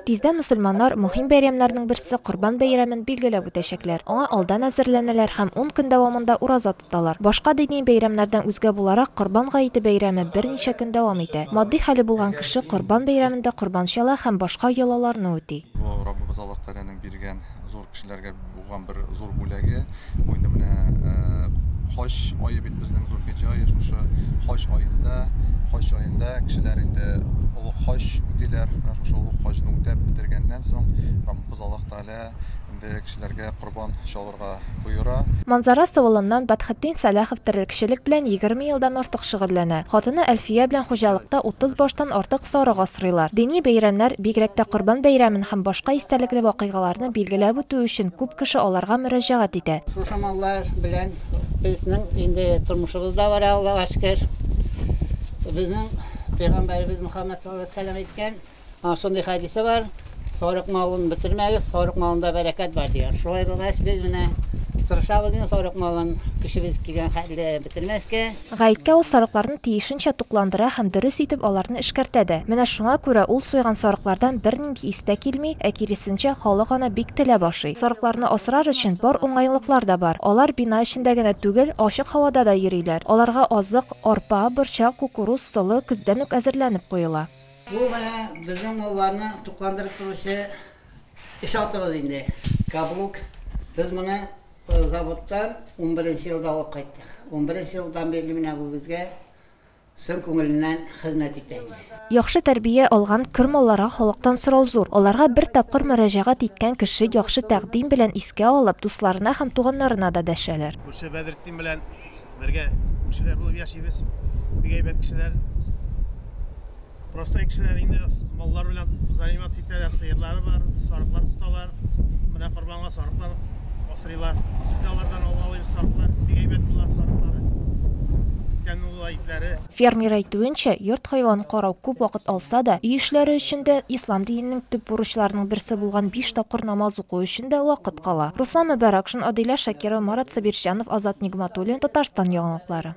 Тиздән мөселманнар мөһим бәйрәмнәрнең берсе Корбан бәйрәмен билгеләп үтәчәкләр. Аңа алдан әзерләнәләр һәм ун көн дәвамында ураза тоталар. Башка дини бәйрәмнәрдән үзгә буларак, Корбан гаете бәйрәме берничә көн дәвам итә. Матди хәле булган кеше Корбан бәйрәмендә корбан чала һәм башка йолаларны үти. Бу Раббыбыз Аллаһ Тәгаләнең биргән зур кешеләргә. Туган бер зур бүләге. Бу инде менә э, хаҗ айы бит безнең Зулхиҗҗа айы шушы хаҗ аенда, хаҗ аенда кешеләр инде олуг хаҗ үтиләр. Менә шушы олуг хаҗны үтәп бетергәннән соң Раббыбыз Аллаһ Тәгалә инде кешеләргә корбан чалырга буйыра. Манзара Сывылыннан Батхетдин Сәлахов терлекчелек белән егерме елдан артык шөгыльләнә. Хатыны Әлфия белән хуҗалыкта утыз баштан артык сарык асрыйлар. Дини бәйрәмнәр, бигрәк тә Корбан бәйрәмен һәм башка истәлекле вакыйгаларны Билгеләп үтү өчен, күп кеше аларга мөрәҗәгать итә. Шушы маллар белән безнең инде тормышыбыз да бара, Аллага шөкер. Безнең пәйгамбәребез Мөхәммәд саллаллаһу алейһи ва сәлләм әйткән, а, шундый хәдисе бар, Сарык малын бетермәгез, сарык малында бәрәкәт бар, дигән. Шулай булгач, без менә тырышабыз инде сарык малын көчебез килгән хәтле бетермәскә. Гаеткә ул сарыкларны тиешенчә тукландыра һәм дөрес итеп аларны эшкәртә дә. Менә шуңа күрә ул суйган сарыклардан бернинди ис тә килми, ә киресенчә, халык аны бик теләп ашый. Сарыкларны асрар өчен бар уңайлыклар да бар. Алар бина эчендә генә түгел, ачык һавада да йөриләр. Аларга азык, арпа, борчак, кукуруз, солы көздән үк әзерләнеп куела. Бу менә безнең малларны тукландырып торучы Эш атыгыз инде, каблук. Без моны заводтан унберенче елда алып кайттык. Унберенче елдан бирле менә бу безгә чын күңеленнән хезмәт итә инде. Яхшы тәрбия алган көр малларга халыктан сорау зур. Аларга бер тапкыр мөрәҗәгать иткән кеше яхшы тәкъдим белән искә алып, дусларына һәм туганнарына да дәшәләр. Күрше Бәдретдин белән бергә күршеләр булып яшибез. Бик әйбәт кешеләр. Простой кешеләр инде маллар белән заниматься итәләр, сыерлары бар, сарыклар тоталар. Менә корбанга сарыклар асрыйлар. Без дә алардан алып алабыз сарыклар. Бик әйбәт була сарыклары. Тәмле була итләре. Фермер әйтүенчә, йорт хайванын карау күп вакыт алса да, өй эшләре өчен дә, ислам диненең төп бурычларының берсе булган биш тапкыр намаз уку өчен дә вакыт кала. Руслан Мөбәрәкшин, Адилә Шакирова, Марат Сабирҗанов, Азат Нигъматуллин, Татарстан яңалыклары.